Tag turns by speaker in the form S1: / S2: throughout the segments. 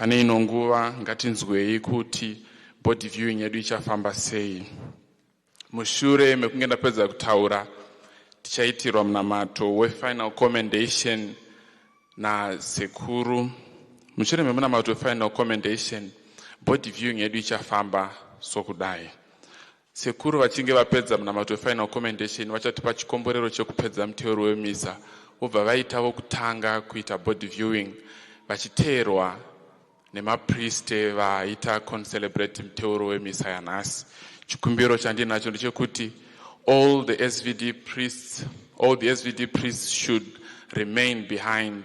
S1: Pane ino nguva ngatinzwei kuti body viewing yedu ichafamba sei. Mushure mekunge ndapedza kutaura tichaitirwa munamato wefinal commendation nasekuru. Mushure memunamato wefinal commendation body viewing yedu ichafamba sokudai. Sekuru vachinge vapedza munamato weFinal Commendation vachatipa chikomborero chekupedza muteuro wemisa vobva vaita vokutanga kuita body viewing vachiteerwa nemapriste vaita concelebrate muteuro wemisa yanhasi. Chikumbiro chandinacho ndechekuti all the SVD priests, all the SVD priests should remain behind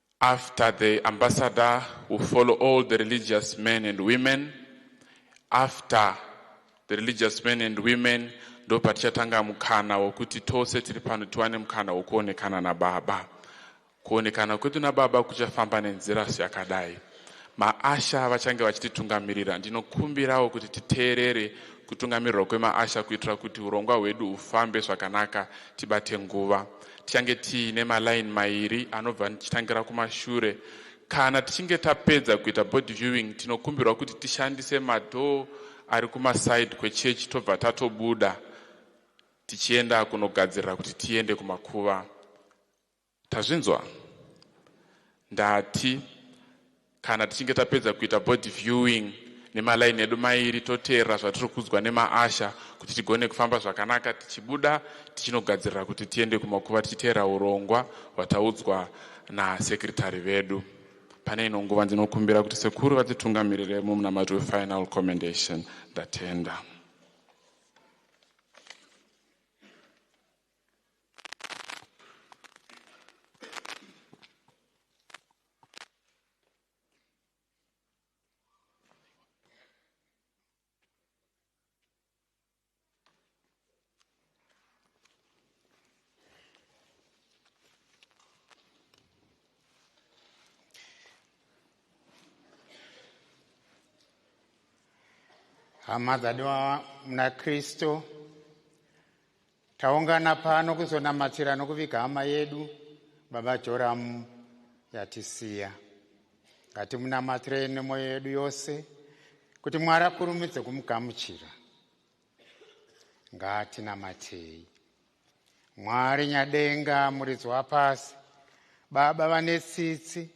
S1: After the ambassador will follow all the religious men and women after the religious men and women ndopatichatanga mukana wokuti tose tiri pano tiwane mukana wokuonekana nababa kuonekana kwedu nababa kuchafamba nenzira yakadai Maasha vachange vachititungamirira. Ndinokumbirawo kuti titeerere kutungamirirwa kwemaasha kuitira kuti hurongwa hwedu hufambe zvakanaka tibate nguva. Tichange tiine maline mairi anobva tichitangira kumashure. Kana tichinge tapedza kuita body viewing tinokumbirwa kuti tishandise madoor ari kumaside kwechechi tobva tatobuda tichienda kunogadzirira kuti tiende kumakuva. Tazvinzwa? Ndati kana tichinge tapedza kuita body viewing nemalaini edu mairi toteerera zvatiri kuudzwa nemaasha kuti tigone kufamba zvakanaka tichibuda tichinogadzirira kuti tiende kumakuva tichiteera urongwa hwataudzwa nasekretary vedu pane ino nguva ndinokumbira kuti sekuru vatitungamirire mumunamato wefinal commendation ndatenda
S2: hama dzadiwa muna kristu Taungana pano kuzonamatira nokuviga hama yedu baba Joramu yatisiya. Ngatimunamatirei nemwoyo yedu yose kuti Mwari akurumidze kumugamuchira. Ngatinamatei. Mwari nyadenga muridzi wapasi, baba vane tsitsi,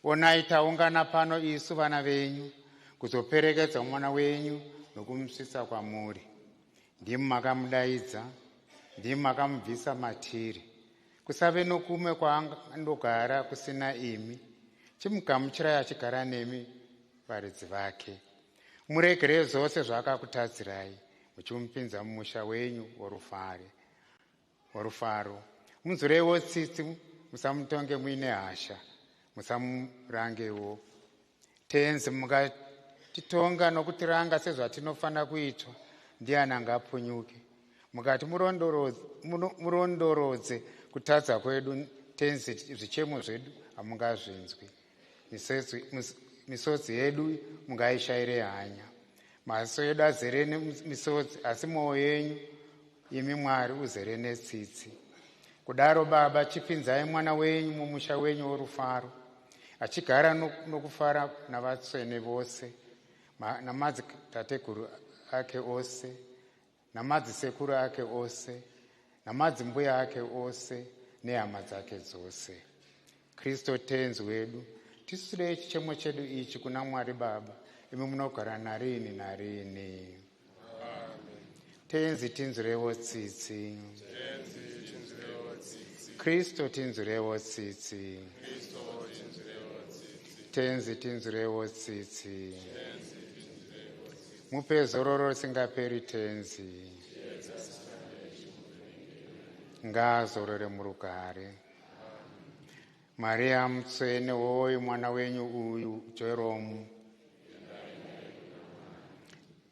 S2: onai taungana pano isu vana venyu kuzoperekedza mwana wenyu nokumusvitsa kwamuri. Ndimi makamudaidza, ndimi makamubvisa matiri. Kusave nokumwe kwaandogara kusina imi. Chimugamuchirai achigara nemi varidzi vake. Muregerei zvose zvaakakutadzirai, muchimupinza mumusha wenyu worufare. Rufaro. Munzwireiwo tsitsi, musamutonge muine hasha, musamurangewo. Tenzi, mukatitonga nokutiranga sezvatinofanira kuitwa, ndiani angapunyuke? Mukati murondorodze kutadza kwedu, Tenzi, zvichemo zvedu hamungazvinzwi. Misodzi yedu mungaishaire hanya. Maziso edu azere nemisodzi, asi mwoyo yenyu imi Mwari uzere netsitsi. Kudaro Baba, chipinzai mwana wenyu mumusha wenyu worufaro, achigara nokufara navatsvene vose namadzitateguru ake ose namadzisekuru ake ose namadzimbuya ake ose nehama dzake dzose kristu tenzi wedu tisutirei chichemo chedu ichi kuna mwari baba imi munogara narini narini tenzi tinzwirewo tsitsi kristu tinzwirewo tsitsi tenzi tinzwirewo tsitsi Mupe zororo risingaperi tenzi. Ngaazorore murugare. Maria mutsvene woyi mwana wenyu uyu Jeromu.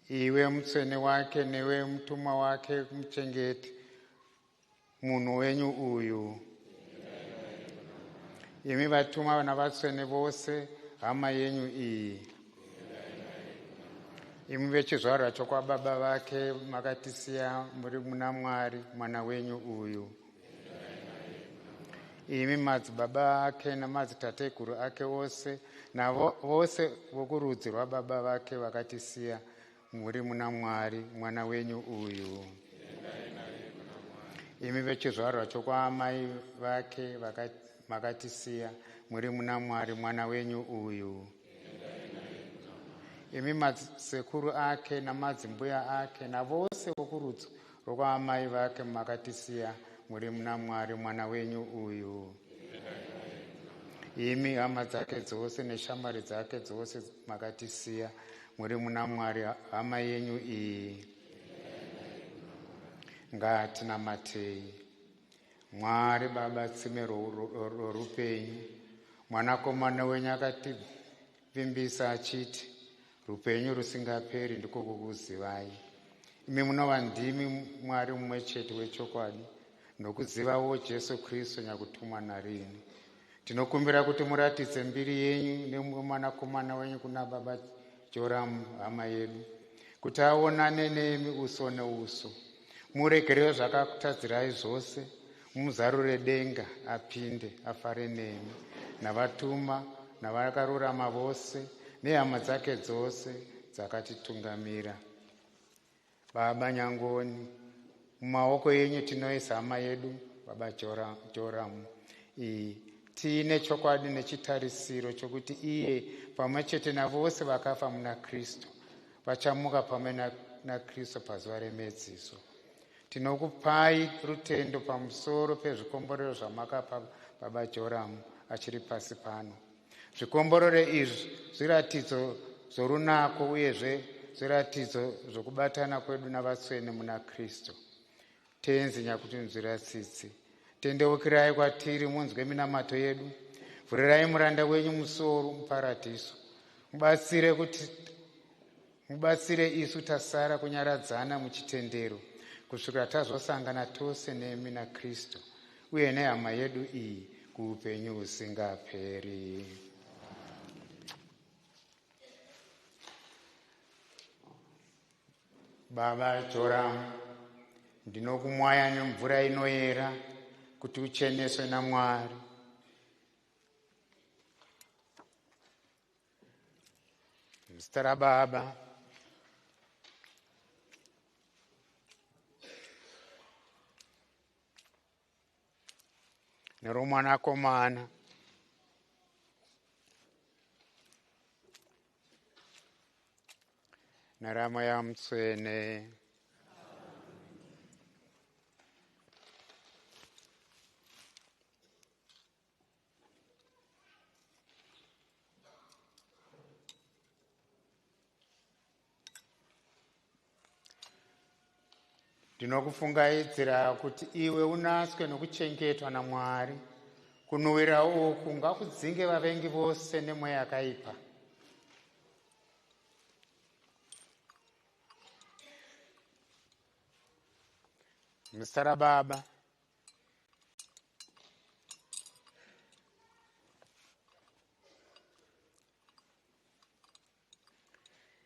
S2: Iwe mutsvene wake newe mutumwa wake muchengeti Munhu wenyu uyu. Imi vatuma vana vatsvene vose hama yenyu iyi. Imi vechizvarwa chokwababa vake makatisiya muri muna Mwari mwana wenyu uyu. Imi madzibaba ake namadzitateguru ake ose navose vokurudzi rwababa vake vakatisiya Muri muna Mwari, mwana wenyu uyu. Imi vechizvarwa chokwaamai vake makatisiya, muri muna Mwari, mwana wenyu uyu. Imi masekuru ake namadzimbuya ake navose vokurudzi Ko kwaamai vake makatisiya muri muna Mwari mwana wenyu uyu. Imi hama dzake dzose neshamwari dzake dzose makatisiya muri muna Mwari hama yenyu iyi. Ngatinamatei. Mwari Baba tsime rorupenyu mwanakomana wenyu akati Vimbisa achiti, Rupenyu rusingaperi ndiko kukuzivai, imi munova ndimi Mwari mumwe chete wechokwadi, nokuzivawo Jesu Kristu nyakutumwa narini. Tinokumbira kuti muratidze mbiri yenyu nemwanakomana wenyu kuna Baba Joramu hama yedu, kuti aonane nemi uso neuso, muregerere zvakakutadzirai zvose, Muzarure denga apinde afare nemi navatuma navakarurama vose nehama dzake dzose dzakatitungamira. Baba Nyangoni, mumaoko yenyu tinoisa hama yedu Baba Joramu iyi tiine chokwadi nechitarisiro chokuti iye pamwe chete navose vakafa muna Kristu vachamuka pamwe naKristu pazuva remedziso. Tinokupai rutendo pamusoro pezvikomborero zvamakapa Baba Joramu achiri pasi pano. Zvikomborero izvi zviratidzo zvorunako uyezve zviratidzo zvokubatana kwedu navatsvene muna Kristu. Tenzi nyakutinzwira tsitsi. Tendeukirai kwatiri munzwe minamato yedu. Vhurirai muranda wenyu musuwo muparadhiso. Mubatsire kuti Mubatsire isu tasara kunyaradzana muchitendero kusvikira tazosangana tose nemi naKristu uye nehama yedu iyi kuupenyu husingaperi. Baba Joram, ndinokumwaya nemvura inoyera kuti ucheneswe naMwari. Zita raBaba neromwanakomana naramweya mutsvene ndinokufungaidzira kuti iwe unaswe nokuchengetwa namwari kunhuwira uku ngakudzinge vavengi vose nemweya yakaipa muzita rababa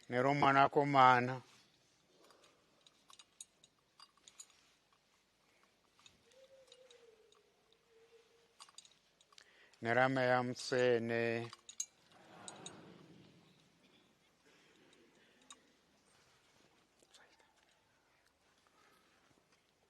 S2: neromwanakomana nerameya mutsvene